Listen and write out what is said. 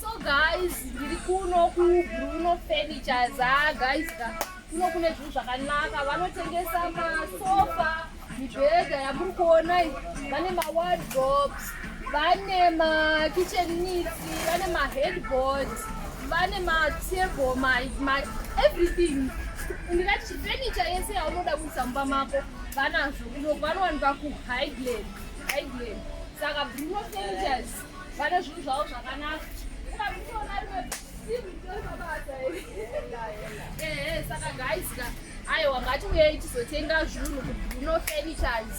so guys ndiri kuno kubruno furniture za guys kuno kune zvinhu zvakanaka vanotengesa masofa mibhedha yamuri kuona vane mawardrobes vane makitchen needs vane maheadboards vane matable everything ndingati chifenicha yese yaunoda kuisa mumba mako vanazvo kuno vanowanikwa kuhighland highland saka bruno fenitures vane zvinhu zvavo zvakanaka ukabitoona rimwe saka guys Aiwa ngatiuyei tizotenga zvinhu kuBruno Furnitures.